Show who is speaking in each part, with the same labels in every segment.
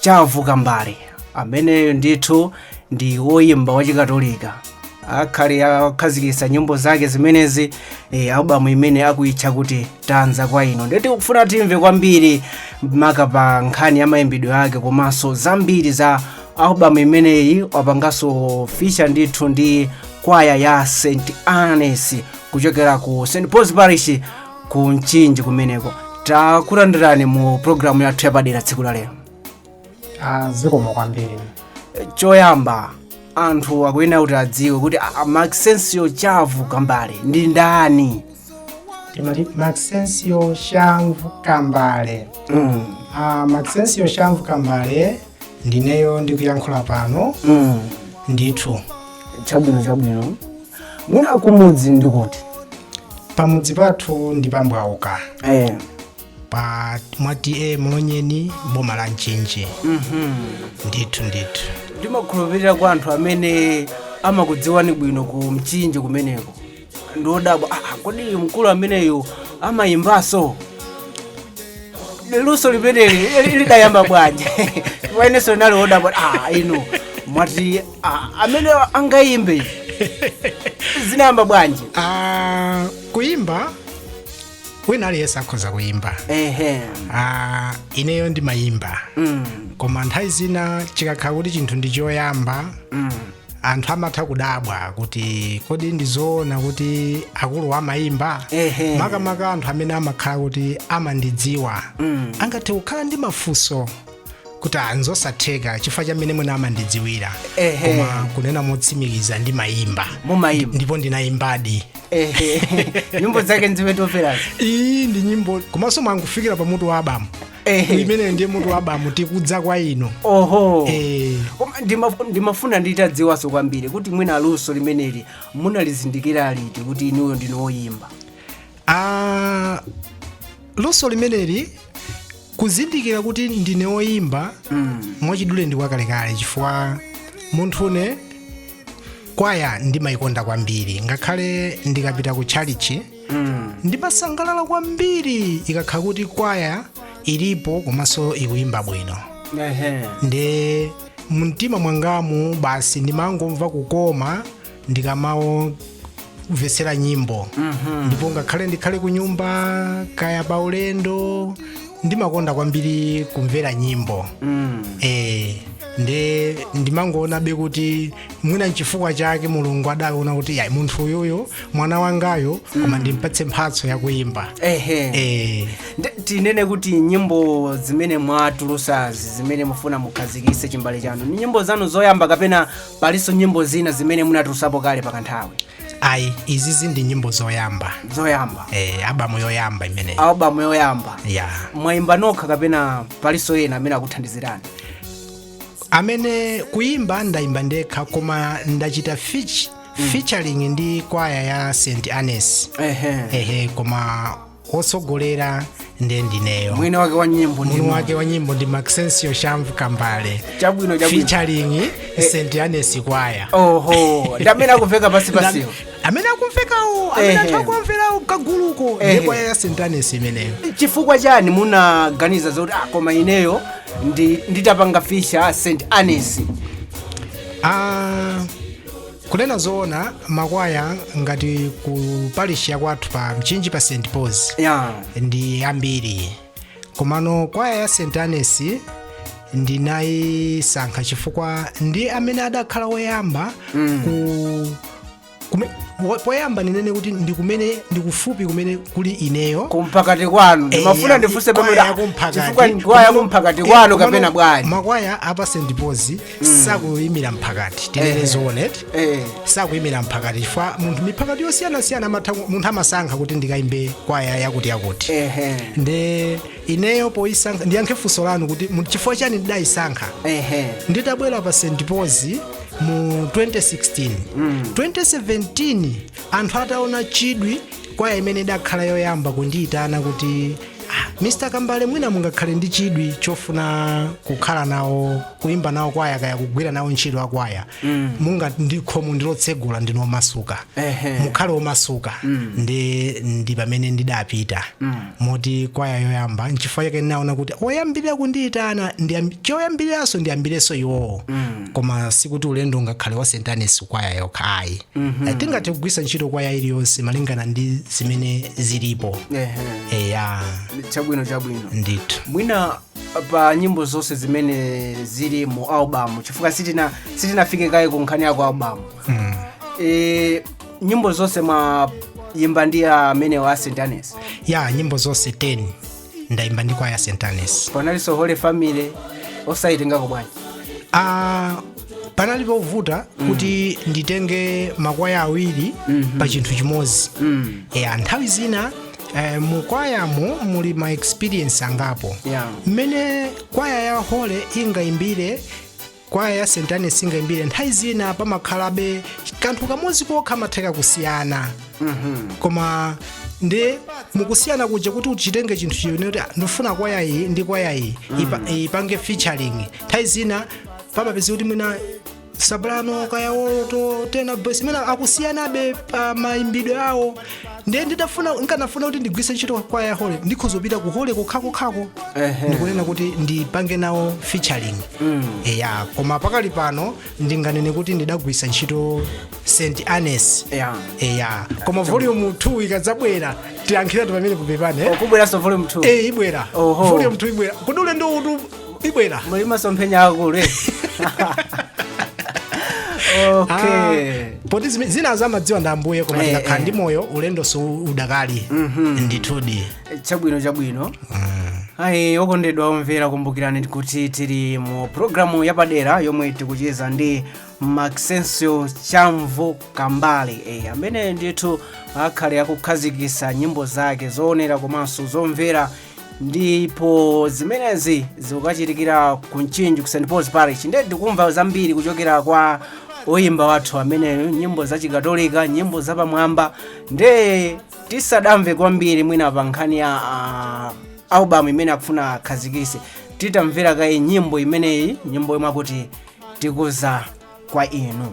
Speaker 1: chavu kambale ameneyo ndithu ndi woyimba wachikatolika akhale akukhazikitsa nyimbo zake zimenezi e, albamu imene akuitcha kuti tadza kwa inu ndiye tikufuna timve kwambiri maka pa nkhani ya mayimbidwe ake komanso zambiri za albamu imeneyi wapanganso feature ndithu ndi kwaya ya st agnes kuchokera ku st paul's parish ku mchinji kumeneko takulandirani mu programu yathu yapadera tsiku la lero
Speaker 2: Ah, zikomo kwambiri choyamba
Speaker 1: anthu akuyenera kuti adziwe kuti a- a maxensio chavu kambale ndi ndani
Speaker 2: timati maxensio chamvu kambale mm. Ah, maxensio chamvu kambale ndineyo ndikuyankhula pano mm. ndithu chabwino
Speaker 1: chabwino mwina kumudzi ndi kuti
Speaker 2: pamudzi pathu ndi pambwauka eh. pa mwa ta mlonyeni boma la mchinji ndithu ndithu
Speaker 1: ndimakhulupirira kwa anthu amene amakudziwani bwino ku mchinji kumeneko ndiodabwa ah, kodi mkulu ameneyu amayimbanso luso limeneli lidayamba bwanji inenso ndinali odabwa ah, inu mwati Ah, amenewa angayimbe izi zinayamba bwanji
Speaker 2: Ah, kuyimba wina aliyense akhoza kuyimba ehe Ah, ineyo ndimayimba Mm, koma nthawi zina chikakhala kuti chinthu ndi choyamba mm. anthu amatha kudabwa kuti kodi ndizoona kuti akuluwa amayimba Ehe. makamaka anthu amene amakhala kuti amandidziwa Mm. angathe kukhala ndi mafunso kuti ah nzosatheka chifukwa cha mmene mwina amandidziwira Ehe. koma kunena motsimikiza ndimayimba mumayimba ndipo ndinayimbadi Ehe.
Speaker 1: nyimbo zake nzimene tamverazi iyi ndi nyimbo
Speaker 2: komanso mwangofikira pa mutu wa albamu Ehe. imeneyo ndiye mutu wa albamu tikudza kwa inu oho Eh. Koma
Speaker 1: ndimaf- ndimafuna nditadziwanso kwambiri kuti mwina luso limeneli munalizindikira liti kuti inuyo ndinu woyimba Ah,
Speaker 2: luso limeneli kuzindikira kuti ndine woyimba mwachidule ndi kwakalekale chifukwa munthune kwaya ndimayikonda kwambiri ngakhale ndikapita ku tchalichi ndimasangalala kwambiri ikakhala kuti kwaya ilipo komanso ikuyimba bwino Ehe. ndiye mumtima mwangamu basi ndimangomva kukoma ndikamamvetsera nyimbo ndipo ngakhale ndikhale ku nyumba kaya pa ulendo ndimakonda kwambiri kumvera nyimbo eh nde ndimangoonabe kuti mwina nchifukwa chake mulungu adaona kuti ya munthu uyuyu mwana wangayo koma ndimpatse mphatso yakuyimba ehe eh Nde-
Speaker 1: tinene kuti nyimbo zimene mwatulusazi zimene mufuna mukhazikise chimbale chanu ni nyimbo zanu zoyamba kapena palinso nyimbo zina zimene munatulusapo kale pakanthawi ayi
Speaker 2: izizi ndi nyimbo zoyamba zoyamba eh, albamu yoyamba imeneyi albamu yoyamba
Speaker 1: ya mwayimba nokha kapena palinso ena amene
Speaker 2: akuthandizirani amene kuyimba ndayimba ndekha koma ndachita fich featuring ndi kwaya ya st annes ehe ehe koma wotsogolera ndiye ndineyo mwini wake wa
Speaker 1: nyimbo ndi mwini wake wa nyimbo ndi
Speaker 2: maxensio shamvu kambale chabwino chabwino
Speaker 1: featuring
Speaker 2: st annes kwaya oho ndi amene
Speaker 1: akumveka pansi pansiwo amene akumvekawo
Speaker 2: amene Ehe. anthu akumverawo kaguluko Ehe. ndiye kwaya ya st annes imeneyo chifukwa
Speaker 1: chani munaganiza zoti ah, koma ineyo ndi- nditapanga feature st annes Ah,
Speaker 2: Kunena zoona makwaya ngati ku parish ya kwathu pa Mchinji pa St Paul's ya ndi ambiri komano kwaya ya St Annes ndinayisankha chifukwa ndi amene adakhala woyamba ku kume- wo- poyamba ndinene kuti ndi kumene ndi kufupi kumene kuli ineyo kumphakati kwanu
Speaker 1: Eh, ndimafuna ya- ndifunse kwaya pamene yakumphakati. chifukwa ndikwaya Komano- kumphakati eh, kwanu komano kapena bwanji makwaya apa St
Speaker 2: Paul's sakuyimira mphakati tinene zoona Eh. sakuyimira mphakati chifukwa munthu miphakati yosiyanasiyana amatha ku- munthu amasankha kuti ndikayimbe kwaya yakuti yakuti Ehe. nde ineyo poyisankha ndiyankhe funso lanu kuti mu- chifukwa chani ndidayisankha Ehe. nditabwera pa st paul's mu 2016 2017 anthu ataona chidwi kwaya imene idakhala yoyamba kundiyitana kuti "Ah, mr kambale mwina mungakhale ndi chidwi chofuna kukhala nawo kuimba nawo kwaya kaya kugwira nawo ntchito ya kwaya munga ndi khomo ndilotsegula ndinu omasuka Ehe. mukhale omasuka ndi ndi pamene ndidapita moti kwaya yoyamba nchifukwa chake ndinaona kuti oyambirira kundiyitana ndiyam- choyambiriranso ndiyambirenso iwowo koma sikuti ulendo ungakhale wa st annes kwaya yokha ayi Eh, tingathe kugwiritsa ntchito kwaya iliyonse malingana ndi zimene zilipo Ehe. eya chabwino
Speaker 1: chabwino ndithu mwina pa nyimbo zonse zimene zili mu albamu chifukwa sitina sitinafike kaye ku nkhani ya ku albamu mm. e, nyimbo zonse mwayimba ndi amenewa a st agnes ya nyimbo zonse
Speaker 2: 10 ndayimba ndi kwaya ya st agnes panalinso
Speaker 1: holy family osayitengako bwanji ah, panali
Speaker 2: povuta mm. kuti nditenge makwaya awiri mm -hmm. pa chinthu chimodzi mm. yeah, nthawi zina Eh, mu kwayamo muli ma experience angapo Yeah. mmene kwaya ya holy ingaimbire kwaya ya st agnes ingaimbire nthawi zina pamakhalabe kanthu kamodzi kokha kamatha kusiyana koma ndi mukusiyana kuja kuti uchitenge chinthu chimene kuti "Ah, ndifuna kwaya iyi ndi kwaya iyi ipa- ipange featuring nthawi zina pamapezeka kuti mwina soprano kaya alto tenor bass mwina akusiyanabe pa mayimbidwe awo ndiye nditafuna nkanafuna kuti ndigwiritse ntchito kwaya ya holy ndikhoza kupita ku holy kokhakokhako Ehe. ndikunena kuti ndipange nawo featuring eya koma pakali pano ndinganene kuti ndidagwiritsa ntchito st agnes Yeah. eya koma volume 2 ikadzabwera tiyankhiratu pamenepa kupepa ndiye eh? ikubweranso volume
Speaker 1: 2 Eh, ibwera Oho.
Speaker 2: volume 2 ibwera koma ndithu ibwera muli
Speaker 1: masomphenya akulu
Speaker 2: eti? okay Ah, poti zime- zinazi amadziwa ndi ambuye koma Eh, tikakhala eh. ndi moyo ulendonso udakali ndithudi chabwino chabwino
Speaker 1: ayi okondedwa omvera kumbukirani kuti tili mu programu yapadera yomwe tikucheza ndi maxencio chamvu kambale e, amene ndithu akhale akukhazikisa nyimbo zake zoonera komanso zomvera ndipo zimenezi zikukachitikira ku mchinji ku st pauls parish ndiye tikumva zambiri kuchokera kwa oyimba wathu ameneyo nyimbo za chikatolika nyimbo zapamwamba ndiye tisadamve kwambiri mwina pa nkhani ya ah, album imene akufuna akhazikise titamvera kaye nyimbo imeneyi nyimbo yomwe akuti tikudza kwa inu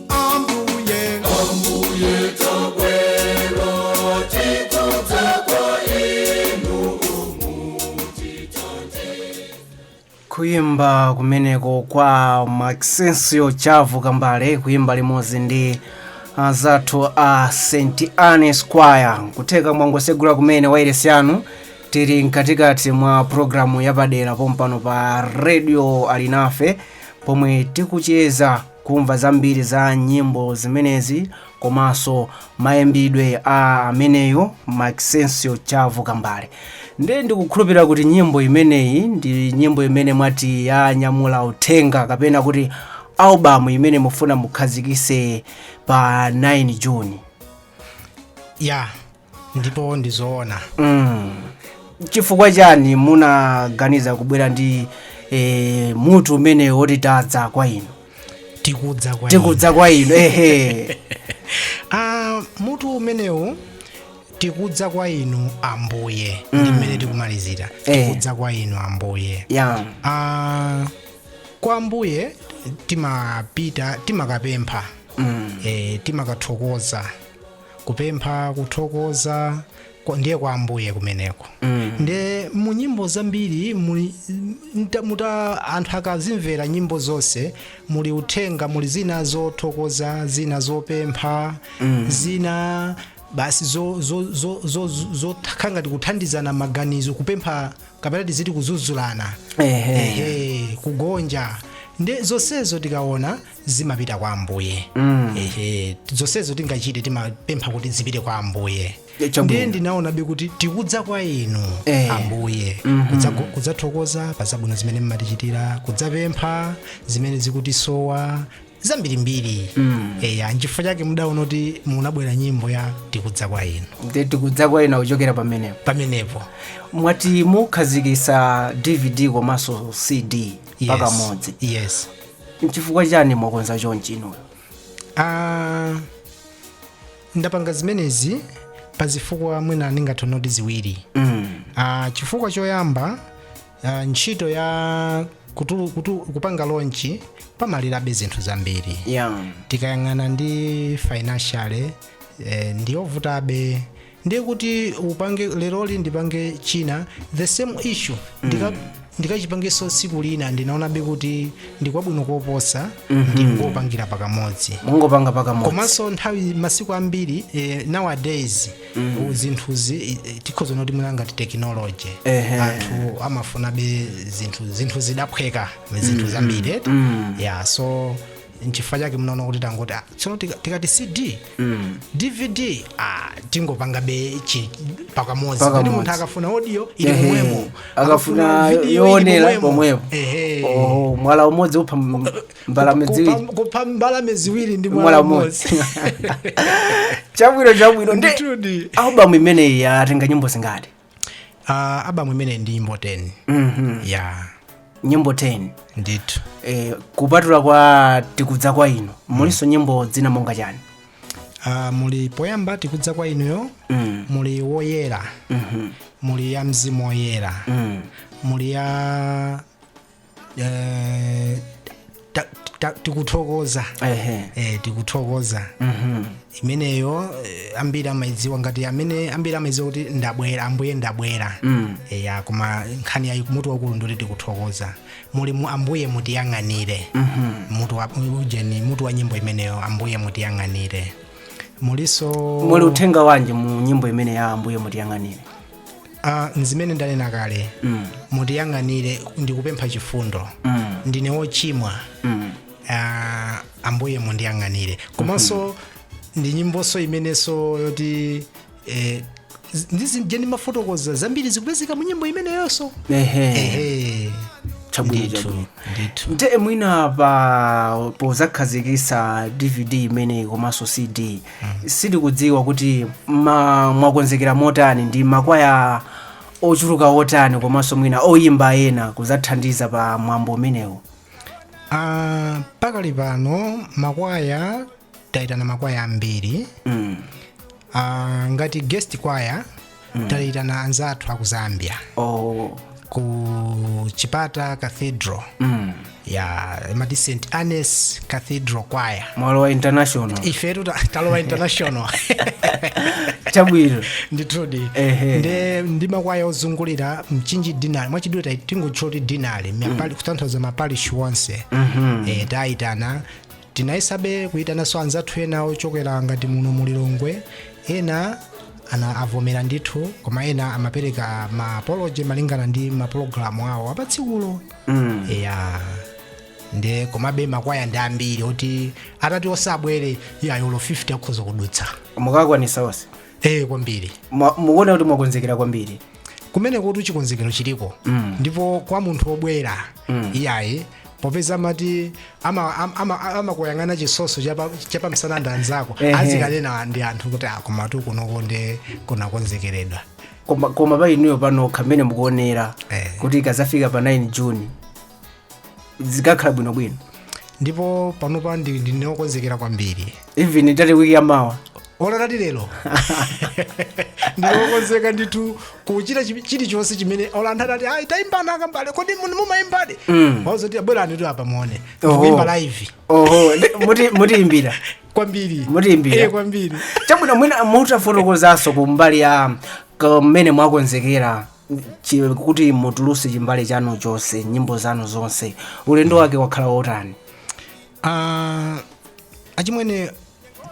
Speaker 3: ambuye ambuye tabwera tikudza kwa
Speaker 1: inu kuyimba kumeneko kwa maxensio chamvu kambale kuyimba limodzi ndi anzathu a st agnes choir kutheka mwangosegula kumene wairesi yanu tili mkatikati mwa programu yapadera pompano pa radio alinafe pomwe tikucheza Kumva zambiri za nyimbo zimenezi komanso mayimbidwe a ameneyo Maxencio Chamvu Kambale ndiye ndikukhulupirira kuti nyimbo imeneyi ndi nyimbo imene mwati yanyamula uthenga kapena kuti albamu imene mufuna mukhazikise pa 9 June
Speaker 2: ya ndipo ndi
Speaker 1: zoona chifukwa chani munaganiza kubwera ndi eh, mutu umenewu woti tadza kwa inu tikudza kwa inu. tikudza kwa inu ehe Ah,
Speaker 2: mutu umenewu tikudza kwa inu ambuye ndi mmene tikumalizira Eh. tikudza kwa inu ambuye ya Ah, kwa ambuye timapita timakapempha mm. e, timakathokoza kupempha kuthokoza kwa- ndiye kwa ambuye kumeneko nde mu nyimbo zambiri muli mta- muta anthu akazimvera nyimbo zonse muli uthenga muli zina zothokoza zina zopempha zina basi zo- zo- zo- zo- zo- zokhala ngati kuthandizana maganizo kupempha kapena tiziti kudzudzulana Ehe. Ehe, kugonja nde zonsezo tikaona zimapita kwa ambuye ehe zonsezo tingachite timapempha kuti zipite kwa ambuye E, chabwino. ndiye ndinaonabe kuti tikudza kwa inu Eh. ambuye Kudzago- kudzathokoza pa zabwino zimene mmatichitira kudzapempha zimene zikutisowa zambirimbiri eya nchifukwa chake ndinaona kuti munabwera nyimbo ya tikudza kwa inu Ndi tikudza kwa
Speaker 1: inu kuchokera pamenepo pamenepo mwati mukhazikisa dvd komanso cd yes. pakamodzi yes nchifukwa chani mwakonza chonchi inuyo
Speaker 2: Ah, ndapanga zimenezi pa zifukwa mwina ndingathonoti ziwiri mm. Ah, chifukwa choyamba ah, ntchito ya kutulu, kutu, kupanga lonchi pamalirabe zinthu zambiri yeah. tikayang'ana ndi financially eh, ndiyovutabe ndiye kuti ndipange leroli ndipange china the same issue ndika ndikachipangenso tsiku lina ndinaonabe kuti ndikwabwino koposa ndingopangira pakamodzi mungopanga pakamodzi
Speaker 1: komanso nthawi
Speaker 2: masiku ambiri eh, nowadays mm. zinthuzi eh, eh, tikhoza kunena kuti mwina ngati technology Ehe. anthu amafunabe zinthu zinthu zidaphweka zinthu zambiri mm. yeah so nchifukwa chake ndinaona kuti tangoti ah, tsono tika- tikati cd dvd ah, tingopangabe chi- pakamodzi Pakamodzi. kuti munthu akafuna audio ili Ehe. momwemo akafuna video
Speaker 1: ili yoonera momwemo. pomwepo Ehe. Oho, mwala umodzi upha m- mbalame ziwiri Kupa- kupha
Speaker 2: mbalame ziwiri ndi mwala mwala umodzi umodzi chabwino
Speaker 1: chabwino ndi Ndithudi. albamu imeneyi yatenga nyimbo zingati uh,
Speaker 2: albamu imeneyi ndi nyimbo 10 Mhm. ya
Speaker 1: nyimbo 10 ndithu eh,
Speaker 2: kupatula
Speaker 1: kwa tikudza kwa inu mulinso nyimbo zina monga chani uh,
Speaker 2: muli poyamba tikudza kwa inuyo Mm. muli woyera Mhm. muli ya mzimu woyera Mm. muli ya eh, ta- ta- tikuthokoza ehe eh, tikuthokoza imeneyo eh, ambiri amayidziwa ngati amene ambiri amayidziwa kuti ndabwera ambuye ndabwera Mm. eya koma nkhani yake mutu waukulu ndoti tikuthokoza muli ambuye mutiyang'anire mutu wa ujeni mutu wa nyimbo imeneyo ambuye mutiyang'anire mulinso muli uthenga wanji
Speaker 1: mu nyimbo imene ya ambuye mutiyang'anire
Speaker 2: Ah, nzimene ndanena kale mutiyang'anire ndikupempha chifundo ndine wochimwa Ah, ambuye mundiyang'anire komanso ndi nyimbonso imenenso yoti eh, z- ndizije ndimafotokoza zambiri zikupezeka mu nyimbo imeneyonso ehe
Speaker 1: Ehe. Chabwino, Ndithu, chabwino. ndithu. nte mwina pa pozakhazikisa dvd imeneyi komanso cd sitikudziwa kuti ma, mwakonzekera motani ndi makwaya ochuluka otani komanso mwina oyimba ena kuzathandiza pa mwambo umenewo Ah,
Speaker 2: pakali pano makwaya tayitana makwaya ambiri mm. Ah, ngati guest kwaya taitana anzathu aku zambia oh. ku chipata cathedral mm. ya amati st annes cathedral kwaya mwalowa international
Speaker 1: ifetu ta- talowa
Speaker 2: international
Speaker 1: chabwino
Speaker 2: ndithudi Ehe. nde ndi makwaya ozungulira mchinji deanery mwachidule tai- tingotchula kuti deanery mm. kutanthauza maparish onse mm-hmm. e, taitana Tinayesabe kuitananso anzathu ena ochokera ngati muno mu Lilongwe, ena ana avomera ndithu koma ena amapereka ma apology malingana ndi mapulogalamu awo apatsikulo Mm. ya nde komabe makwaya ndi ambiri oti atati osabwere iyayi olo 50 akhoza kudutsa mukakwanisa
Speaker 1: onse ee
Speaker 2: kwambiri Mwa- mukuona kuti
Speaker 1: mwakonzekera kwambiri kumene kuti
Speaker 2: chikonzekero chiliko Mm. ndipo kwa munthu obwera Mm. iyayi popeza amati ama- ama- ama- amakuyang'ana chitsotso chapa- chapamsana ndi anzako Ehe. azikanena ndi anthu kuti a komatu kunoku nde kunakonzekeredwa koma, koma
Speaker 1: pa inuyo panokha mmene mukuonera Eh. kuti ikazafika pa 9 june zikakhala bwinobwino ndipo
Speaker 2: panopa ndi- ndine wokonzekera kwambiri even itati wiki
Speaker 1: yamawa olo atati
Speaker 2: lero ndine okonzeka ndithu kuchita chi- chilichonse chimene olo anthu atati ayi tayimbani akambale kodi mun- mumayimbadi Mm. wazoti a bweranitu apa muone Oho. kuimba live oho ndi- muti-
Speaker 1: mutiimbira kwambiri
Speaker 2: Mutiimbira. Eh,
Speaker 1: kwambiri
Speaker 2: chabwino
Speaker 1: mwina mutafotokozanso ku mbali ya mmene mwakonzekera chi- kuti mutulutse chimbale chanu chonse nyimbo zanu zonse ulendo wake wakhala wotani Ah,
Speaker 2: achimwene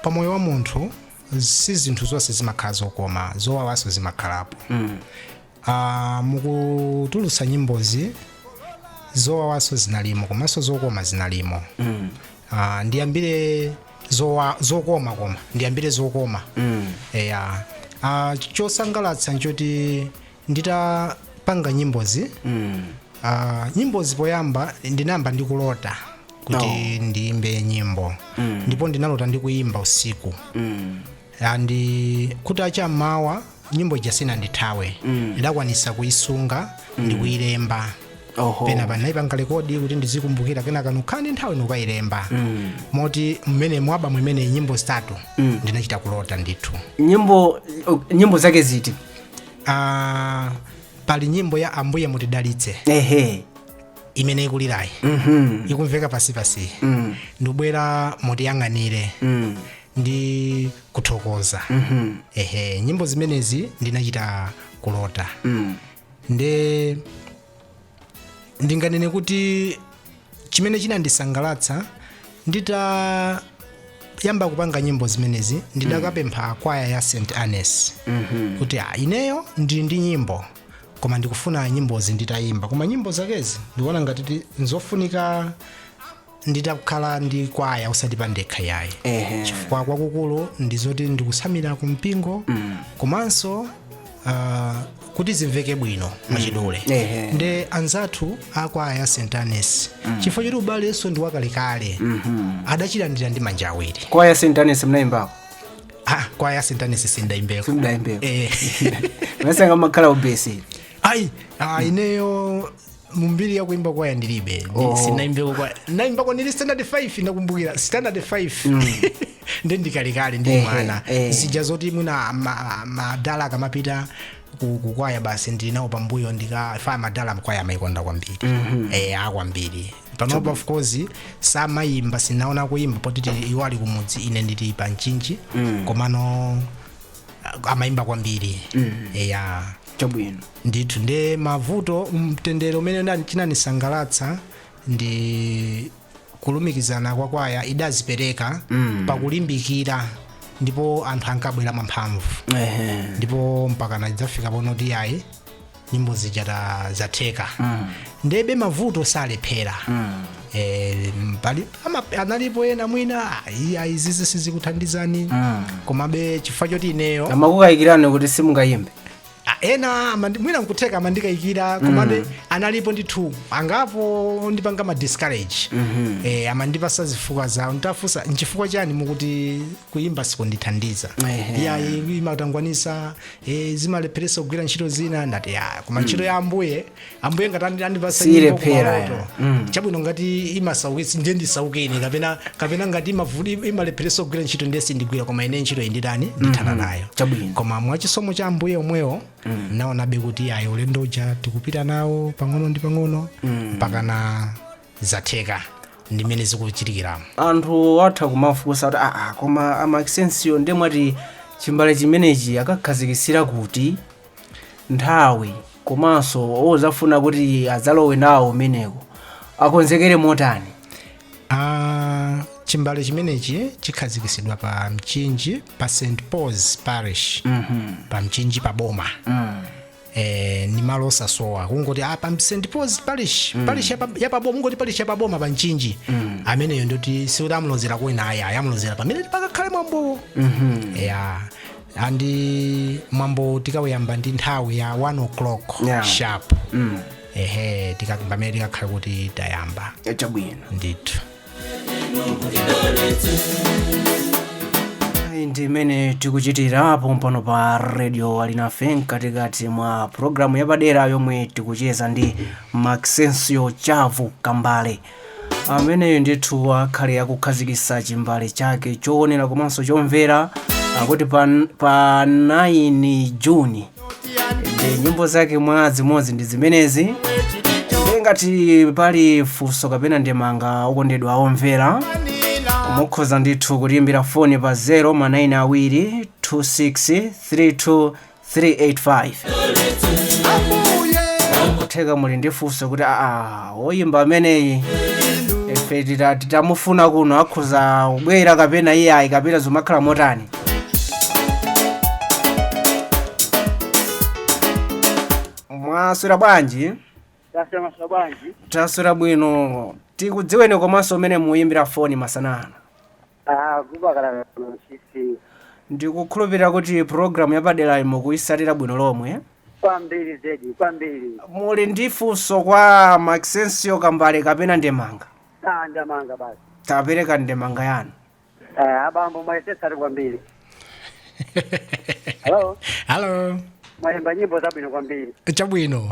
Speaker 2: pa moyo wa munthu si zinthu zonse zimakhala zokoma zowawanso zimakhalapo mm. uh, mukutulutsa nyimbozi zowawanso zinalimo komanso zokoma zinalimo mm. uh, ndiyambire zowa, zokoma koma ndiyambire zokoma mm. eya uh, chosangalatsa nchoti nditapanga nyimbozi ah, nyimbozi poyamba ndinayamba ndikulota kuti Oh. ndiyimbe nyimbo ndipo ndinalota ndikuyimba usiku ndi kuti acha m'mawa nyimbo ija sinandithawe ndidakwanisa kuyisunga ndikuyilemba Oho. pena pa ndinayipanga rekodi kuti ndizikumbukira kenaka nkukhala ndi nthawi ndikukayilemba moti mmene mu album imeneyi nyimbo zitatu ndinachita kulota ndithu nyimbo
Speaker 1: nyimbo zake ziti
Speaker 2: ah, pali nyimbo ya ambuye mutidalitse ehe imene ikulirayi mhm ikumveka pansipansi mm ndibwera mutiyang'anire mm ndi kuthokoza mhm ehe nyimbo zimenezi ndinachita kulota mm nde ndinganene kuti chimene chinandisangalatsa nditayamba kupanga nyimbo zimenezi ndidakapempha kwaya ya st annes kuti "Ah, ineyo ndili ndi nyimbo koma ndikufuna nyimbozi nditayimba koma nyimbo zakezi ndikuona ngati ti- nzofunika nditakhala ndi kwaya osati pandekha yayi Ehe. chifukwa kwakukulu ndi zoti ndikutsamira ku mpingo komanso uh, kuti zimveke bwino mwachidule Ehe. nde anzathu akwaya ya st annes chifukwa choti ubalenso ndi wakalekale adachilandira ndi manja awiri kwaya ya st
Speaker 1: annes munayimbako ah, kwaya
Speaker 2: ya st annes sindaimbeko simudayimbeko eh.
Speaker 1: masanga makhala ubesi ayi ah, ineyo
Speaker 2: mumbiri ya kuimba kwaya ndilibe oh. sinaimbeko kwaya naimbako ndili standard 5 ndakumbukira standard 5 nde ndikalekale ndi Eh, mwana eh, eh. zija zoti mwina ma- madala akamapita ku- kukwaya basi ndili nawo pambuyo ndikafa ya madala kwaya amaikonda kwambiri eh akwambiri panopa of course samayimba sinaone akuimba poti tili- iwo ali kumudzi ine ndili pa mchinji komano ah, amaimba kwambiri eya chabwino
Speaker 1: ndithu
Speaker 2: nde mavuto mtendere umene unali- chinanisangalatsa ndi kulumikizana kwa kwaya idadzipereka mm. pakulimbikira ndipo anthu ankabwera mwamphamvu Ehe. ndipo mpakana idzafika ponena kuti ayi nyimbo zija ta- zatheka mm. ndebe mavuto salephera mm. E, pali, ama, analipo ena mwina ayi, ayi izizi sizikuthandizani mm. komabe chifukwa choti ineyo amakukayikirani kuti
Speaker 1: simungayimbe Ah,
Speaker 2: ena amandi- mwina nkutheka amandikayikira komabe analipo ndithu angapo ondipanga ma discourage eh, amandipasa zifukwa zawo nditafunsa nchifukwa chani mukuti kuyimba sikundithandiza Ehe. iyayi imatangwanisa eh, zimalepheresa kugwira ntchito zina ndati ya koma ntchito ya ambuye ambuye ngati andi- andipatsa nyimbo Siilephera, kumaloto ya. Mm. chabwino ngati imasaukitsi ndiye ndisaukiranji kapena kapena ngati imavuti imalepheretsa kugwira ntchito ndiye sindigwira koma ine ntchito inditani ndithana nayo Chabwino. koma mwachisomo cha ambuye omwewo naonabe kuti ayi ulendo uja tikupita nawo pang'ono ndi pang'ono mpaka na zatheka ndimene zikuchitikiramo anthu atha
Speaker 1: kumafunsa kuti aa koma a maxensio ndiye mwati chimbale chimenechi akakhazikitsira kuti nthawi komanso ozafuna kuti adzalowe nawo umeneko akonzekere motani Ah,
Speaker 2: chimbale chimenechi chikhazikisidwa pa mchinji pa st pauls parish pa mchinji pa boma Eh, ni malo osasowa kungoti ah, pa st pauls parish parish yapa- yapaboma kungoti parish yapaboma pa mchinji ameneyo ndoti sikuti amulozera kwina ayi amulozera pamene pakakhale mwambowo ya and eh, mwambo tikauyamba ndi nthawi ya 1 o'clock Yeah. sharp mm. ehe tika- pamene tikakhale kuti tayamba chabwino ndithu
Speaker 1: Ayi, ndi mmene tikuchitira pompano pa radio alinafe mkatikati mwa programu yapadera yomwe tikucheza ndi maxensio chavu kambale ameneyo ndithu akhale akukhazikitsa chimbale chake choonera komanso chomvera akuti pa, pa 9 juni ndi nyimbo zake mwa zimodzi ndi zimenezi nde ngati pali funso kapena ndemanga okondedwa omvera mukhoza ndithu kutiimbira foni pa 0 ma 9 awiri 26 32 385 kutheka muli ndi funso kuti aa woyimba ameneyi ife tita- titamufuna kuno akhoza kubwera kapena iyayi kapena zomakhala motani mwaswera bwanji taswera mwaswera bwanji taswera bwino tikudziweni komanso komwe mukuyimbira foni masana ano Abubakar Lusisi. Ndikukhulupirira kuti pulogalamu yapaderayi mukuitsatira bwino lomwe. Kwambiri zedi,
Speaker 4: kwambiri.
Speaker 1: Muli ndi funso kwa Maxencio Kambale kapena ndemanga? Ah,
Speaker 4: ndemanga basi. Tapereka
Speaker 1: ndemanga yanu. Eh,
Speaker 4: abambo mwayesetsadi
Speaker 2: kwambiri. Hello, Hello. mwayimba nyimbo
Speaker 4: zabwino kwambiri. Chabwino.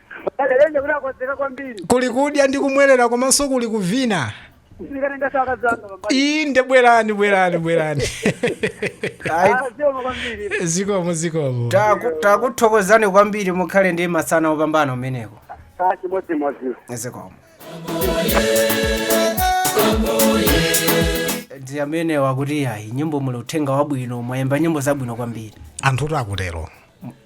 Speaker 2: Paderenje kuti akonzeka kwambiri. Kuli kudya ndi kumwerera komanso kuli kuvina. Ndikatenganso akazi anga pambali. Inde bwerani bwerani bwerani. Ayi, Ah, zikomo kwambiri. Zikomo zikomo. taku- takuthokozani
Speaker 1: kwambiri mukhale ndi masana opambana kumeneko Ah, chimodzimodzi. zikomo ndi amenewa akuti yayi nyimbo muli uthenga wabwino mwayimba nyimbo zabwino kwambiri Anthu akutero.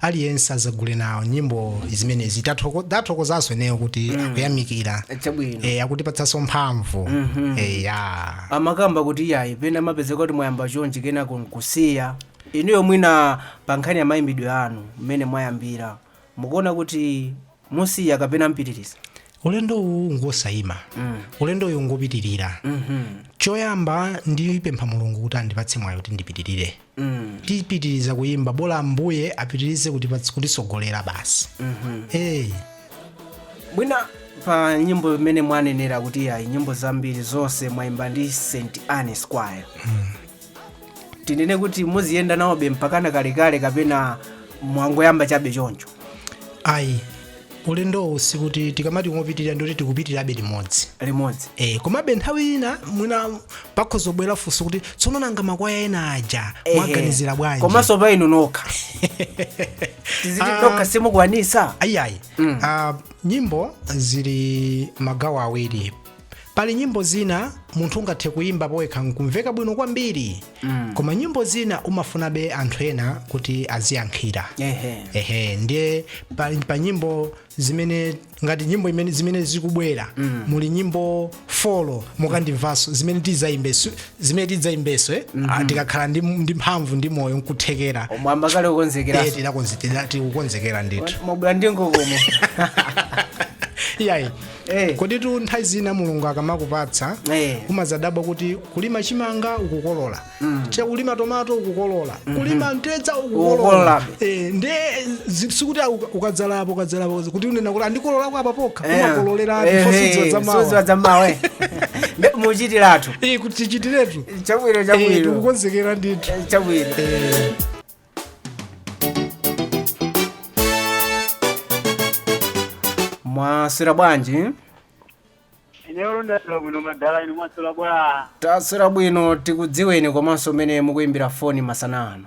Speaker 2: aliyense azagule nawo nyimbo zimenezi Tathoko- tathokozanso ineyo kuti akuyamikira chabwino Eh, akutipatsanso mphamvu Eh, ya
Speaker 1: amakamba kuti iyayi pena amapezeka kuti mwayamba chonchi kenako nkusiya inuyo mwina pa nkhani ya mayimbidwe anu mmene mwayambira mukuona kuti Musiya kapena mupitiliza? Ulendo
Speaker 2: uwu ngwosaima. Ulendo uwu ngopitilira. Choyamba ndipempha Mulungu kuti andipatse mwayi kuti ndipitilire. Tipitiliza kuyimba bola Ambuye apitilize kutipatsa, kutisogolera basi.
Speaker 1: Eee. Mwina pa nyimbo imene mwanenera kuti yayi nyimbo zambiri zonse mwaimba ndi St. Anne's Choir. tinene kuti muziyenda nawobe mpakana kalekale kapena mwangoyamba chabe choncho ayi
Speaker 2: ulendowu sikuti tikamati ngopitirira ndoti tikupitirabe limodzi limodzi Eh, komabe nthawi ina mwina pakhoza kubwera funso kuti tsono nanga makwaya ena aja Ehe. mwaganizira bwanji komanso pa inu nokha
Speaker 1: tiziti Ah. nokha simukwanisa ayiayi mm. uh,
Speaker 2: nyimbo zili magawo awiri pali nyimbo zina munthu ungathe kuyimba powekha nkumveka bwino kwambiri mm. koma nyimbo zina umafunabe anthu ena kuti aziyankhira ehe ehe ndiye pa, pa nyimbo zimene ngati nyimbo imene zimene zikubwera mm. muli nyimbo folo mukandimvaso zimene tidzayimbeso zimene tidzayimbeso eh? mm-hmm. tikakhala ndi, ndi mphamvu ndi moyo nkuthekera mwayamba kale kukonzekera
Speaker 1: Eh, tidakonze- tida- tikukonzekera
Speaker 2: ndithu mwabwera ndi mkokomo
Speaker 1: iyayi
Speaker 2: Eh. koditu nthawi zina mulungu akamakupatsa Eh. umazadabwa kuti kulima chimanga ukukolola chakulima tomato ukukolola kulima mtedza ukukolola Ukukololabe. Eh, nde zi- sikuti uka- ukadzalapo ukadzalapo kuti unena kuti a ndikololako apa pokha umakololera sudziwa za mawa
Speaker 1: sudziwa za mawa muchitiratu Eh, kuti
Speaker 2: tichitiretu chabwino Eh, chabwino
Speaker 1: tikukonzekera
Speaker 2: ndithu chabwino
Speaker 1: mwaswera
Speaker 4: bwanji ineyo ndaswera bwino madala inu mwaswera bwa taswera bwino
Speaker 1: tikudziweni komanso kumene mukuyimbira foni masana ano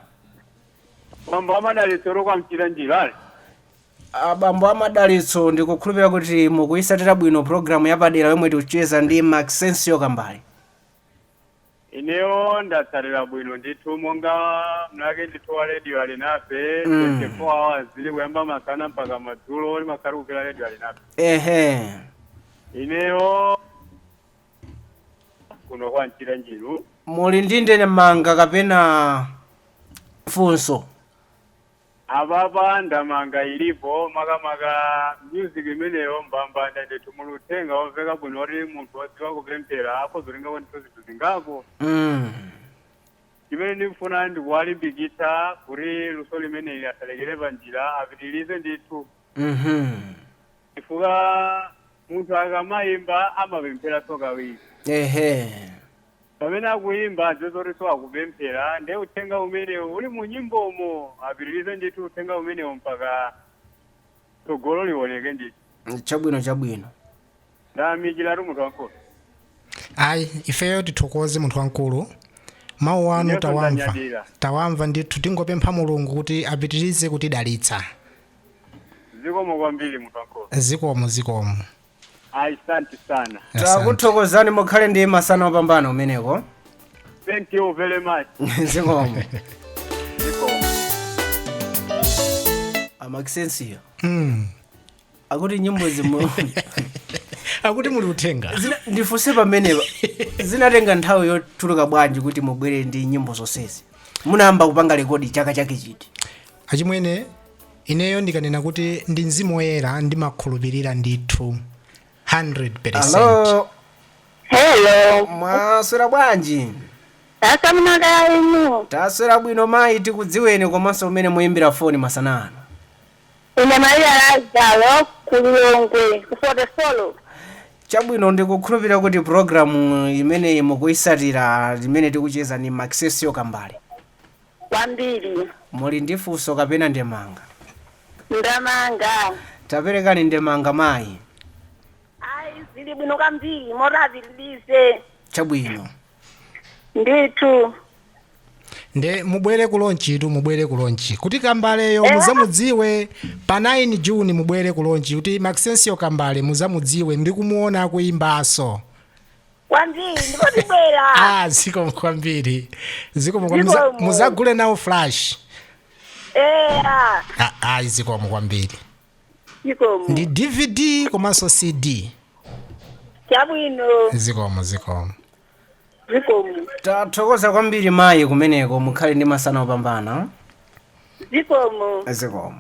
Speaker 4: bambo a Madalitso kwa mchira njira ali
Speaker 1: abambo a Madalitso ndikukhulupirira kuti mukuyitsatira bwino programu yapadera yomwe tikucheza ndi maxensio kambali
Speaker 4: ineyo ndatsatira bwino ndithu monga mzake ndithu wa radio alinafe Mm. 24 hours zili kuyamba masana mpaka madzulo ndimakhala kumvera radio alinafe ehe ineyo kuno kwa mchira njiru muli ndi
Speaker 1: ndemanga kapena funso
Speaker 4: Apapa ndemanga ilipo makamaka music imeneyo mbambande ndithu muli uthenga womveka bwino woti munthu wodziwa kupemphera akhoza kutengako ndithu zinthu zingapo Mm. chimene ndikufuna ndikuwalimbikitsa kuti luso limeneli asalekere panjira apitirize ndithu Mhm. chifukwa munthu akamayimba amapempheraso kawiri Ehe. Pamene akuyimba adziwe zotiso akupemphera nde uthenga umenewo uli mu nyimbomo apitirize ndithu uthenga umenewo mpaka tsogolo liwoneke ndithu. Chabwino chabwino. Ndayamikiratu munthu wankulu.
Speaker 2: Ayi ifeyo tithokoze munthu wankulu mawu anu Inenso tawamva ndanyadira. tawamva ndithu tingopempha Mulungu kuti apitirize kutidalitsa
Speaker 4: Zikomo kwambiri munthu wankulu. zikomo zikomo. ayi asante sana Asante.
Speaker 1: takuthokozani mukhale ndi masana opambana umeneko
Speaker 4: thank you very much zikomo
Speaker 1: a Maxencio Mm. akuti nyimbozimu
Speaker 2: akuti muli uthenga Zina- ndifunse
Speaker 1: pamenepa zinatenga nthawi yotalika bwanji kuti mubwere ndi nyimbo zonsezi munayamba kupanga rekodi chaka chake chiti achimwene
Speaker 2: Ineyo ndikanena kuti ndi mzimu woyera ndimakhulupirira ndithu 100%. alo Hello.
Speaker 5: mwaswera
Speaker 1: bwanji Taswera
Speaker 5: kaya inu. taswera bwino mayi
Speaker 1: tikudziweni komanso kumene muyimbira foni masana ano
Speaker 5: Ine Maria Lazaro ku Lilongwe kufote solo. chabwino
Speaker 1: ndikukhulupirira kuti programu imeneyi mukuyitsatira imene tikucheza ni Maxencio Kambale
Speaker 5: kwambiri. Muli
Speaker 1: ndi funso kapena ndemanga?
Speaker 5: Ndemanga.
Speaker 1: Taperekani ndemanga, mayi. Ayi,
Speaker 5: zili bwino kwambiri moti apitirize. Chabwino.
Speaker 2: Ndithu. Nde mubwere ku lonchitu mubwere ku lonchi kuti Kambaleyo Eh. muzamudziwe pa 9 June mubwere ku lonchi kuti Maxencio Kambale muzamudziwe ndi kumuona akuimbaso.
Speaker 5: kwambiri ndipo ndibwera ah zikomo kwambiri
Speaker 2: zikomo kwa- muza- Zikomo. muzagule nawo flash eya Ah, ah zikomo kwambiri zikomo
Speaker 5: ndi dvd
Speaker 2: komanso cd
Speaker 5: chabwino zikomo
Speaker 2: zikomo
Speaker 5: zikomo
Speaker 1: tathokoza kwambiri mayi kumeneko mukhale ndi masana opambana
Speaker 6: zikomo zikomo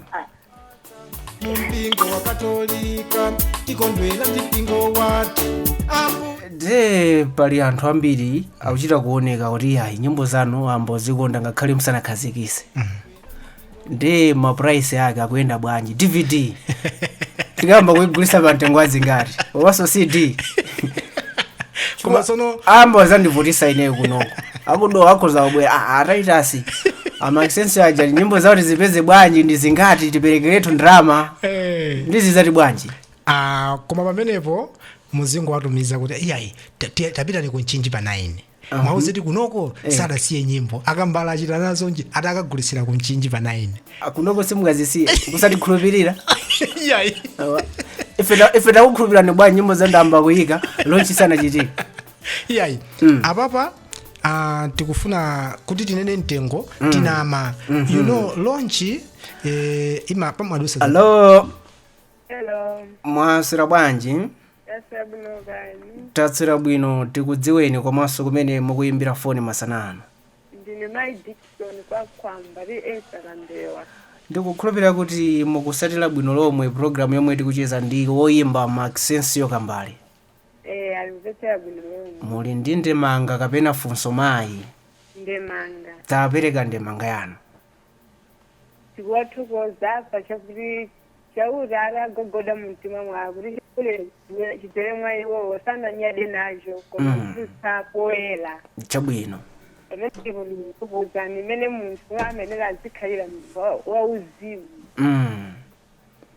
Speaker 6: mumpingo wa katolika tikondwera ndi mpingo wathu ambu de
Speaker 1: pali anthu ambiri akuchita kuoneka kuti ayi nyimbo zanu ayamba kuzikonda ngakhale musanakhazikitse ndi mapuraisi ake akuyenda bwanji dvd tikayamba kuigulitsa pa mtengo wazingati komanso cd
Speaker 2: koma sono ayamba
Speaker 1: kundivutitsa ineyo kunoko akuti akhoza kubwera "Ah, ataitasi a Maxensio aja nyimbo zawo tizipeze bwanji ndi zingati tiperekeretu ndalama Eh. ndi zizapezeka bwanji Ah, koma
Speaker 2: pamenepo muzingowatumiza kuti iyayi ta- ti- tapitani ku mchinji pa 9 muwauze kuti kunoko sadasiye nyimbo a Kambale achita nazo nji ati akagulisira ku mchinji pa 9 kunoko
Speaker 1: simungazisiye kusatikhulupirira iyayi
Speaker 2: Awa. ife
Speaker 1: ta- ife takukhulupirirani bwanji nyimbo zayamba kuyika lonchi sanachitika
Speaker 2: iyayi apapa ah, tikufuna kuti tinene mtengo tinama you know launch eh, imani pamadutsa alo
Speaker 1: Hello,
Speaker 5: mwaswera
Speaker 1: bwanji taswera bwino
Speaker 5: kaya. taswera
Speaker 1: bwino tikudziweni komanso kumene mukuyimbira foni masana ano Ndine
Speaker 5: Mai Dixon kwa Kambwiri Esther Kambewa. ndikukhulupirira
Speaker 1: kuti mukutsatira bwino lomwe programu yomwe tikucheza ndi woyimba maxensio kambale
Speaker 5: Eh, ndikumvetsera bwino lomwe. muli ndi
Speaker 1: ndemanga kapena funso mayi
Speaker 5: Ndemanga.
Speaker 1: tapereka ndemanga yanu Tikuwathokoza
Speaker 5: pa chakuti chauta atagogoda mu mtima mwawo kuti chaulere chidzere mwa iwowo sananyade nacho koma Mm. kuwutsa poyera.
Speaker 1: chabwino Pamene ndipo
Speaker 5: ndikukuuzani mmene munthu amayenera kukhalira munthu wa- wauzimu. mm.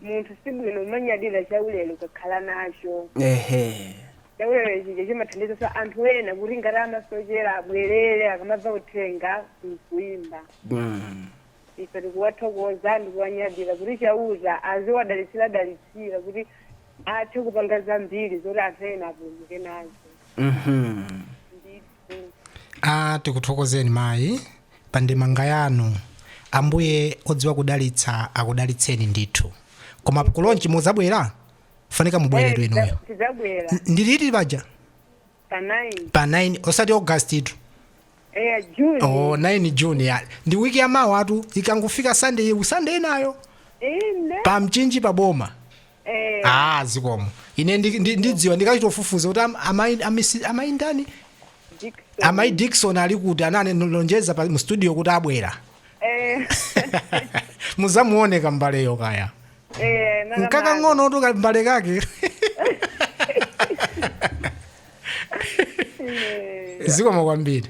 Speaker 5: munthu si bwino kumanyadira chaulere ukakhala nacho ehe chaulere chija chimathandizanso anthu ena kuti ngati amasochera abwerere akamamva uthenga mkuimba Mm. ife tikuwathokoza ndikuwanyadira kuti chauta aziwadalitsira dalitsira kuti athe kupanga zambiri zoti anthu ena apulumuke nazo Mhm.
Speaker 2: a tikuthokozeni mayi pa ndemanga yanu ambuye odziwa kudalitsa akudalitseni ndithu koma kulonchi mudzabwera mufunika mubweretu inuyo tidzabwera N-
Speaker 5: ndi liti
Speaker 2: paja pa
Speaker 5: 9 pa 9
Speaker 2: osati august tu eya
Speaker 5: june oh,
Speaker 2: 9 june ya ndi wiki ya mawa tu ikangofika sunday sunday inayo inde pa mchinji pa boma Eh, ah zikomo ine ndi- ndi- ndidziwa ndikachita kufufuza kuti am- amayi- amisi- amayi ndani Dickson. amayi dikson ali kuti analonjeza pa- mu studio kuti abwera Eh, muzamuone kambaleyo kaya eh, nanga mali. nkakang'onotu kambale kake Eh, zikomo kwambiri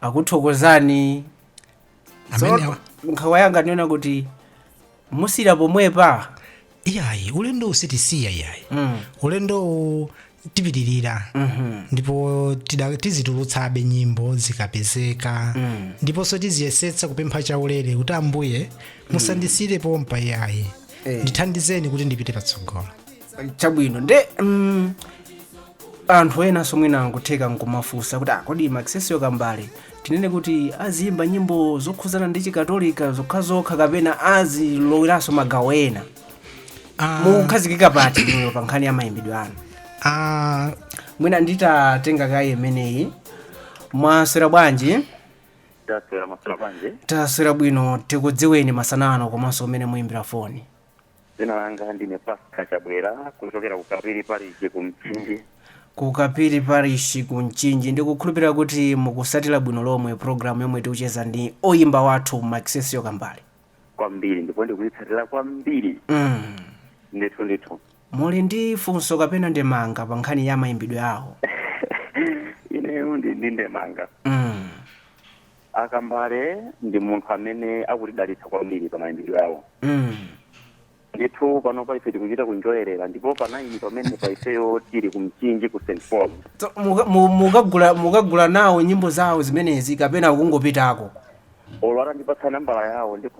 Speaker 1: akuthokozani Amene Tsono, nkhawa yanga ndinena kuti musiira pomwepa iyayi
Speaker 2: ulendo usitisiya iyayi Mm. ulendowu tipitirira ndipo tida- tizitulutsabe nyimbo zikapezeka ndiponso tiziyesetsa kupempha chaulere kuti ambuye musandisire pompa iyayi Eh. ndithandizeni kuti ndipite patsogolo chabwino
Speaker 1: nde mm, Anthu enanso mwina nkutheka n'kumafunsa kuti, ah, kodi Maxencio Kambale tinene kuti aziimba nyimbo zokhudzana ndi Chikatolika zokhazokha kapena aziloweranso magawo ena? Ah, Mukukhazikika pati inuyo pa nkhani ya mayimbidwe anu? ah, Mwina nditatenga kaye imeneyi. Mwaswera bwanji? Taswera bwino tikudziweni masana ano komanso kumene muyimbira foni. Dzina
Speaker 7: langa ndine Pascal Chabwera kuchokera ku Kapiri Parish ku Mchinji. ku
Speaker 1: kapiri parishi ku mchinji ndikukhulupirira kuti mukusatira bwino lomwe programu yomwe tikucheza ndi oyimba wathu Maxencio kambale Kwambiri
Speaker 7: ndipo ndikuyitsatira kwambiri mm. ndithu ndithu. muli
Speaker 1: ndi funso kapena ndemanga pa nkhani ya mayimbidwe awo Ineyo ndi ndi
Speaker 7: ndemanga.
Speaker 1: mm.
Speaker 7: a kambale ndi munthu amene akutidalitsa kwambiri pa mayimbidwe awo mm. ndithu pano pa ife tikuchita kunjoyerera ndipo pa naini pamene pa ifeyo tili kumchinji ku st paul So, muka- mu-
Speaker 1: mukagula mukagula nawo nyimbo zawo zimenezi kapena mukungopitako olo
Speaker 7: atandipatsa nambala yawo ndipo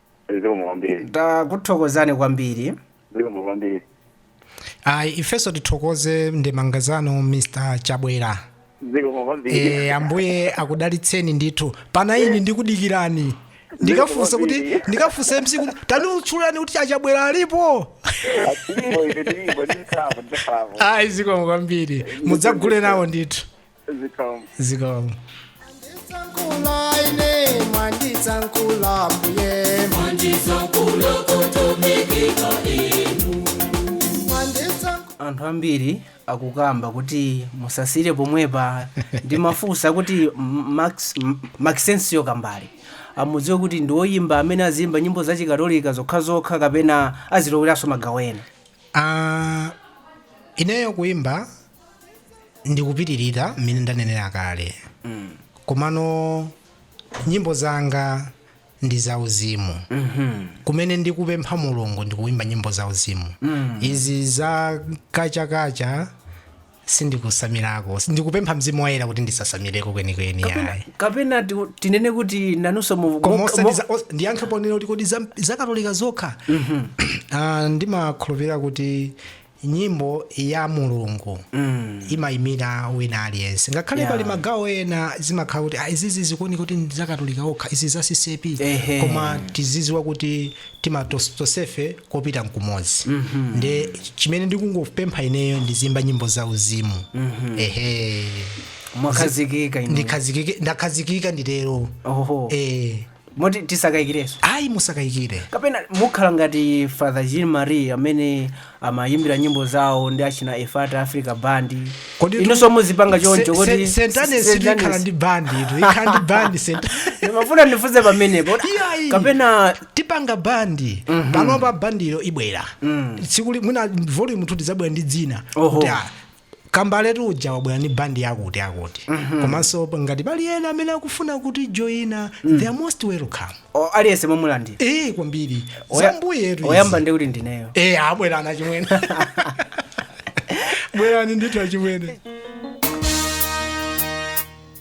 Speaker 7: zikomo kwambiri
Speaker 1: takuthokozani
Speaker 7: kwambiri zikomo kwambiri
Speaker 2: ayi ifenso tithokoze ndemanga zanu mr chabwera zikomo kwambiri e, ambuye akudalitseni ndithu pa naini ndikudikirani ndikafunsa kuti ndikafunsa mc kuti tanditchulirani kuti achabwera alipo atilipo ife tilipo ndikhapo ndikhapo ayi zikomo kwambiri mudzagule nawo ndithu zikomo zikomo Mwanditsankula ine, mwanditsankula mbuye. Mwanditsankula
Speaker 1: anthu ambiri akukamba kuti musasire pomwepa ndimafunsa kuti M- Max- M- Maxencio kambale amudziwe kuti ndi woyimba amene aziyimba nyimbo zachikatolika zokhazokha kapena aziloweranso magawo ena Ah,
Speaker 2: ineyo kuimba ndipitirira mmene ndanenera kale komano nyimbo zanga ndi zauzimu kumene ndikupempha mulungu ndikuimba nyimbo zauzimu izi za kachakacha sindikusamirako ndikupempha mzimu woyera kuti ndisasamireko kwenikweni ayi kapena
Speaker 1: ti- tinene kuti nanunso mu- koma mu- osati mu- za- os-
Speaker 2: ndiyankhe ponena kuti kodi za- zakatolika zokha Ah, ndimakhulupirira kuti nyimbo ya mulungu imayimira wina aliyense ngakhale Yeah. pali magawo ena zimakhala kuti "Ah, izizi zikuoneka kuti ndi zakatolika okha izi za ccp Ehe. koma tiziziwa kuti timatosefe kopita mkumodzi nde chimene ndikungopempha ineyo ndiziyimba nyimbo za uzimu ehe
Speaker 1: mwakhazikika inu. ndikhazikike ndakhazikika
Speaker 2: nditero oho eh
Speaker 1: Moti tisakayikirenso. Ayi
Speaker 2: musakayikire. Kapena
Speaker 1: mukhala ngati Father Jean Marie amene amayimbira nyimbo zawo ndi achina Efata Africa Band. Koditu Inunso muzipanga se- choncho se- kodi St. Annes St. ikhala
Speaker 2: Annes. ndi band itu ikhala ndi band St. Ndimafuna
Speaker 1: ndifunse pamenepo. kuti Iyayi. Kapena
Speaker 2: tipanga bandi panopa bandiyo ibwera tsiku lina mwina volume 2 tidzabwera ndi dzina Oho. kuti ah, Kambaletu uja wabwera ndi band yakuti akuti. Komanso pa- ngati pali ena amene akufuna kutijoina, they are most welcome. O, aliyense mwamulandira
Speaker 1: Eh kwambiri.
Speaker 2: Oya- Za Ambuye tu. oyamba ndi kuti
Speaker 1: ndineyo Eh abwera achimwene.
Speaker 2: Bwerani ndithu achimwene.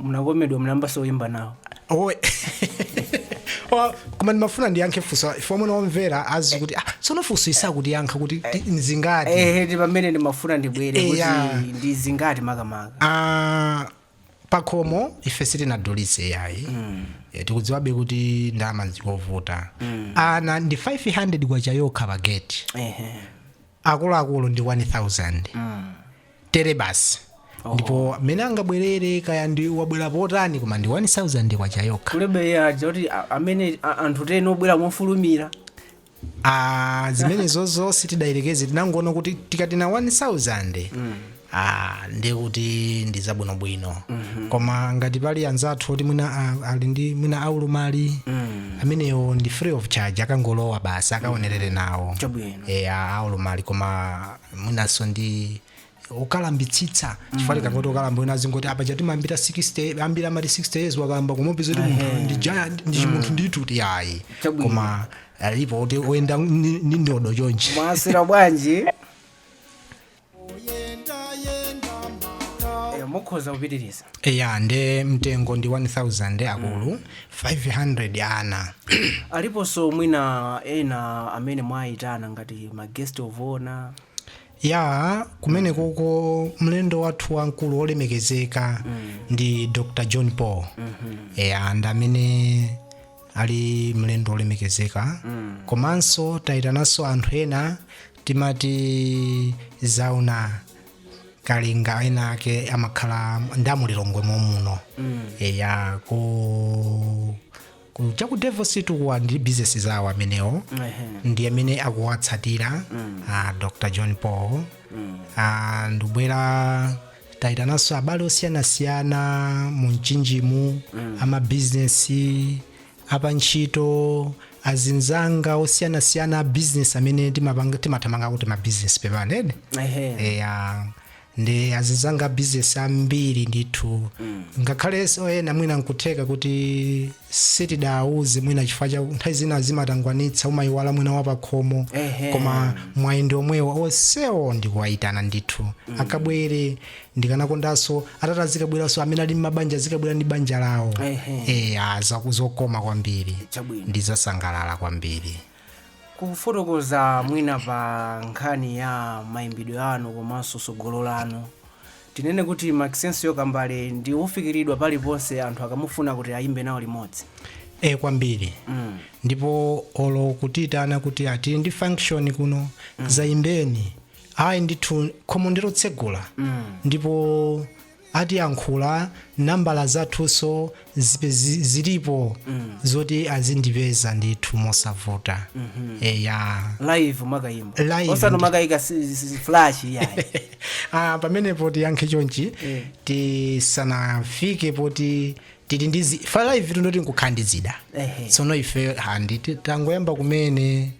Speaker 1: munakomedwa munayambanso kuyimba nawo
Speaker 2: Owe. Wa- koma ndimafuna ndiyankhe ife ife omwe ndi omvera adziwe kuti ah, tsono funso isakutiyankha kuti ti- nzingati ehe ndi pamene ndimafuna
Speaker 1: ndibwere kuti Eya. ndi zingati makamaka Ah,
Speaker 2: pakhomo ife sitinadulise yayi Eh, tikudziwabe kuti ndalama zikuvuta ana ndi 500 kwacha yokha pageti ehe akuluakulu ndi 1000 tere basi ndipo mmene angabwerere kaya ndiwabwera potani koma ndi 1000 kwacha yokha kulebe zija
Speaker 1: kuti a- amene a- anthu tere obwera
Speaker 2: mofulumira Ah, zimenezozo sitidayerekeze, tinangoona kuti tikati 1000 Ah, ndiye kuti ndi zabwinobwino koma ngati pali anzathu oti mwina a- ali ndi mwina aulumali amenewo ndi free of charge akangolowa basi akaonerere nawo Chabwino. e, aulumali koma mwinanso ndi ukalambitsitsa chifukwa tikangoti ukalamba wina azingoti apa chati mambira 60 ambiri amati 60 years wakalamba koma upeza kuti munthu ndi giant ndi chimunthu ndithu ti ayi Chabwino. koma alipo kuti oyenda ndi ndi ndodo chonchi mwasira bwanji
Speaker 1: Eh, mukhoza kupitiriza eya nde
Speaker 2: mtengo ndi 1000 akulu 500 ana aliponso
Speaker 1: mwina ena amene mwayitana ngati ma guest of honor ya
Speaker 2: kumene koko mlendo wathu wamkulu wolemekezeka ndi dr john paul eya ndi amene ali mlendo olemekezeka komanso tayitananso anthu ena a timothy zauna kalinga enaake amakhala ndi mu Lilongwe momuno eya ku ku- cha ku devil street kuwa ndi business zawo amenewo ndi amene akuwatsatira ah, dr john paul Ah, ndibwera taitananso abale osiyanasiyana mu mchinjimu amabizinesi apantchito azinzanga osiyanasiyana a bizinesi amene timapanga- timathamanga kuti mabizinesi pepani inde Ehe. eya ndi azinzanga a bizinesi ambiri ndithu ngakhale so ena mwina nkutheka kuti sitidawuze mwina chifukwa cha nthawi zina zimatangwanitsa umayiwala mwina wapakhomo Ehe. koma mwayi ndi omwewo onsewo ndikuwayitana ndithu akabwere ndikanakondanso atati akabwerenso amene ali mmabanja azikabwera ndi banja lawo Ehe. eya zokoma kwambiri Chabwino. ndizasangalala kwambiri
Speaker 1: kufotokoza mwina pa nkhani ya mayimbidwe anu komanso tsogolo lanu tinene kuti Maxensiyo Kambale ndi wofikiridwa paliponse anthu akamufuna kuti ayimbe nawo limodzi e
Speaker 2: kwambiri mm. ndipo olo kutiyitana kuti a tili ndi function kuno zayimbeni ayi ndithu khomo ndilotsegula ndipo atiyankhula nambala zathuso zipe- zi- zilipo zoti azindipeza ndithu mosavuta eya
Speaker 1: live makayimba Live. osano makayika si- si- si- flash yayi ah,
Speaker 2: pamenepo tiyankhe chonchi Eh. tisanafike poti tili ndi zi- fa live timati nkukhala ndi zida Ehe. tsono ife handi ti- tangoyamba kumene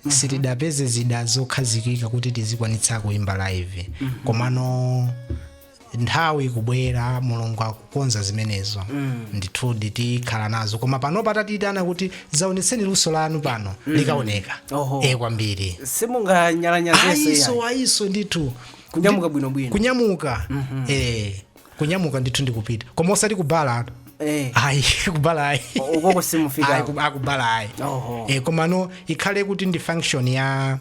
Speaker 2: sitidapeze zida zokhazikika kuti tizikwanitsa kuimba live komano nthawi ikubwera mulungu akukonza zimenezo ndithudi tikhala nazo koma panopa atatiitana kuti zaonetseni luso lanu pano likaoneka Oho. e kwambiri
Speaker 1: simunganyalanyazeso ayiso ayiso ndithu
Speaker 2: kunyamuka bwinobwino
Speaker 1: kunyamuka eh
Speaker 2: kunyamuka ndithu ndikupita koma osati kubala atu Eh. ayi kubala ayi O- ukoko simufika.
Speaker 1: Ayi, ku- kubala
Speaker 2: ayi Oho. e, komano ikhale kuti ndi function ya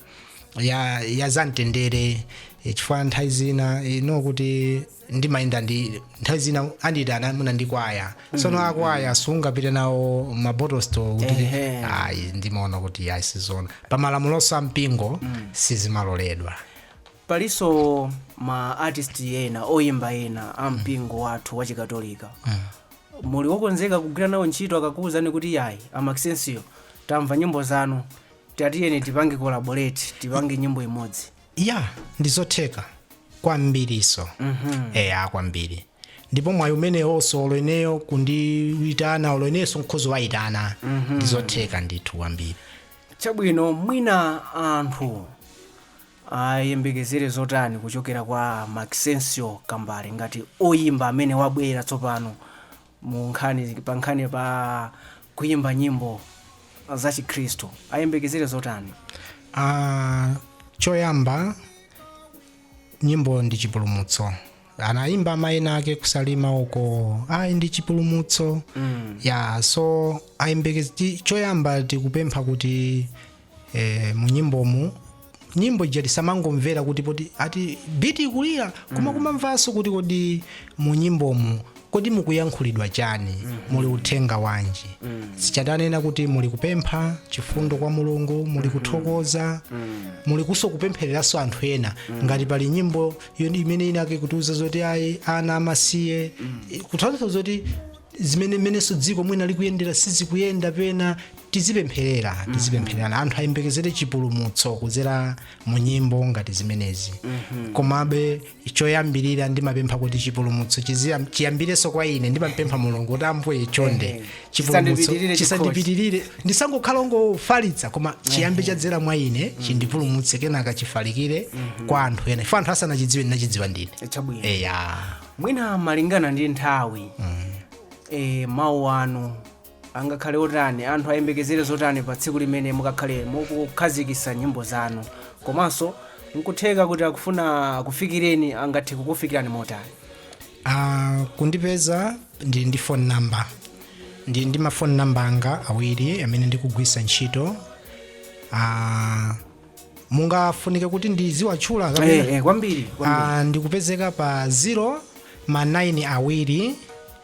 Speaker 2: ya ya zamtendere e, chifukwa nthawi zina ngakhale kuti ndimayenda ndi nthawi zina andiyitana mwina ndi kwaya sono akwaya sungapite nawo m'mabottle store kuti Ehe. ayi ndimaona kuti ayi sizona pamalamuloso a mpingo sizimaloledwa
Speaker 1: Palinso ma artist ena, oyimba ena a mpingo wathu wa Chikatolika. Muli wokonzeka kugwira nawo ntchito akakuwuzani kuti yayi a Maxencio tamva nyimbo zanu tatiyeni tipange collaborate tipange nyimbo imodzi. Ya,
Speaker 2: ndizotheka kwambiriso. Eya kwambiri. Ndipo mwayi umenewonso olo ineyo kundiyitana olo inenso nkhoza kuwayitana. Ndizotheka ndithu kwambiri. Chabwino
Speaker 1: mwina anthu Ayembekezere zotani kuchokera kwa a Maxencio Kambale ngati oyimba amene wabwera tsopano mu nkhani pa nkhani pa kuyimba nyimbo za chikhristu? Ayembekezere zotani? Ah,
Speaker 2: choyamba nyimbo ndi chipulumutso anaimba amwene ake kusalima uko ayi ndi chipulumutso mm. ya so ayembekeze ti- choyamba tikupempha kuti eh, munyimbomu nyimbo ija tisamangomvera kuti poti ati biti ikulira koma kumamvanso kuti kodi munyimbomu Kodi mukuyankhulidwa chani? Muli uthenga wanji? Ndichifukwa tanena kuti muli kupempha chifundo kwa Mulungu, muli kuthokoza, muli kuso kupemphereranso anthu ena. Ngati pali nyimbo yoni- imene inake kutiuza zoti ayi ana amasiye, kuthandiza zoti zimene mmenenso dziko mwina likuyendera sizikuyenda pena tizipempherera tizipemphererana anthu ayembekezere chipulumutso kudzera mu nyimbo ngati zimenezi komabe choyambirira ndimapempha kuti chipulumutso chiziyam- chiyambirenso kwa ine ndimampempha Mulungu kuti Ambuye chonde Ehe. chipulumutso Chisandipitirire chisandipitirire ndisangokhala ongofalitsa koma chiyambe chadzera mwa ine chindipulumutse kenaka chifalikire kwa anthu ena ife anthu asanachidziwe ndinachidziwa ndine chabwino eya mwina
Speaker 1: malingana ndi nthawi e, mawu anu angakhale otani anthu ayembekezere zotani pa tsiku limene mukakhale mukukhazikisa nyimbo zanu komanso nkutheka kuti akufuna kufikireni angathe kukufikirani motani Ah, kundipeza
Speaker 2: ndili ndi phone number ndili ndi mafoni namba anga awiri amene ndikugwisa ntchito Ah, mungafunike kuti ndiziwatchula kapena? Eh, eh, kwambiri kwambiri. Ah,
Speaker 1: ndikupezeka
Speaker 2: pa 0 ma 9 awiri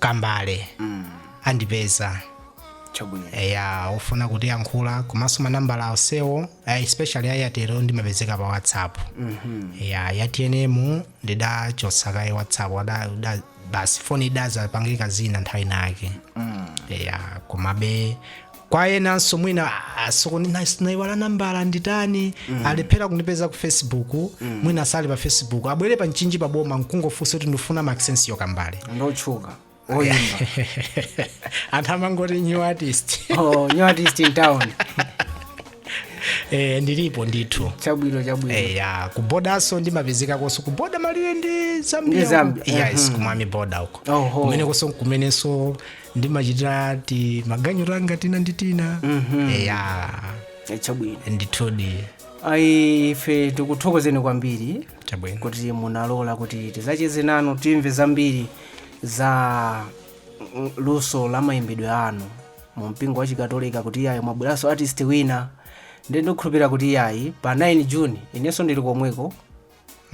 Speaker 2: Kambale andipeza chabwino eya ofuna kutiyankhula komanso manambala onsewo eh, especially a Airtel wo ndimapezeka pa whatsapp eya ya tnm ndidachotsa kaye whatsapp wada- da- basi foni idadzapangika zina nthawi inake eya komabe kwa enanso mwina "Ah, sikuti na- naiwala nambala nditani alephera kundipeza ku facebook mwina sali pa facebook abwere pa mchinji pa boma nkungofunsa kuti ndifuna Maxencio Kambale ndotchuka
Speaker 1: oyimba
Speaker 2: anthu amangoti new artist oh, new artist
Speaker 1: in town
Speaker 2: eh, ndilipo ndithu chabwino chabwino Eh,
Speaker 1: ya ku
Speaker 2: bodanso ndimapezeka konso ku boda malire ndi Ndi zambia Zambia, yes ku Mwami boda uko Oho. kumenenso kumenenso ndimachitira timaganyu tanga tina ndi tina
Speaker 1: eya chabwino
Speaker 2: ndithudi ayi ife
Speaker 1: tikuthokozeni kwambiri chabwino kuti munalola kuti tizacheze nanu timve zambiri za mm, luso la mayimbidwe anu mu mpingo wa chikatolika kuti iyayi mwabweranso artist wina ndiye ndikukhulupirira kuti iyayi pa 9 june inenso ndili komweko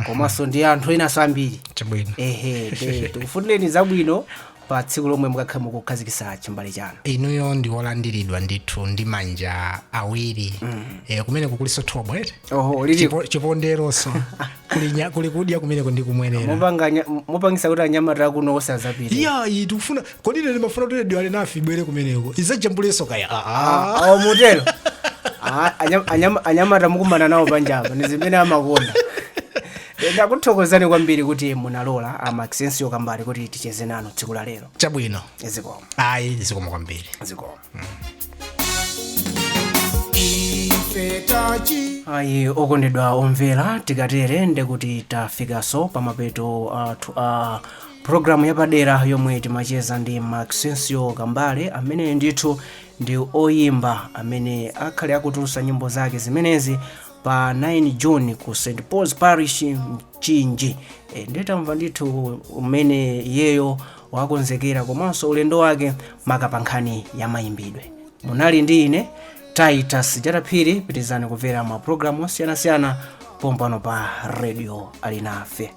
Speaker 1: komanso ndi anthu enanso ambiri chabwino ehe te- tikufunireni zabwino pa tsiku lomwe mukakhale mukukhazikisa chimbale chanu inuyo ndi wolandiridwa
Speaker 2: ndithu ndi manja awiri eh, kumeneko kuliso thobwa eti oho lili Chipo- chiponde so kuli nya- kuli kudya kumeneko ndi kumwerera mupanganya- mupangisa kuti
Speaker 1: anyamata akuno asazapite iya iyi tikufuna
Speaker 2: kodi ine ndimafuna kuti redio alinafe ibwere kumeneko izajambulenso kaya aa awo
Speaker 1: mutero Ah, anyam- anyam- anyamata mukumana nawo panjapa ndi zimene amakonda Eh, ndakuthokozani kwambiri kuti munalola a Maxencio Kambale kuti ticheze nanu tsiku la lero chabwino
Speaker 2: zikomo
Speaker 1: ayi
Speaker 2: zikomo kwambiri
Speaker 1: zikomo ayi okondedwa omvera tikatere ndekuti tafikanso pamapeto athu a Programu yapadera yomwe timacheza ndi Maxencio Kambale amene ndithu ndi oyimba amene akhale akutulusa nyimbo zake zimenezi pa 9 June ku St Paul's Parish Mchinji. E, ndi tamva ndithu umene iyeyo wakonzekera komanso ulendo wake maka pa nkhani ya mayimbidwe. Munali ndi ine Titus Jataphiri, pitirizani kumvera ma programu osiyanasiyana pompano pa Radio Alinafe.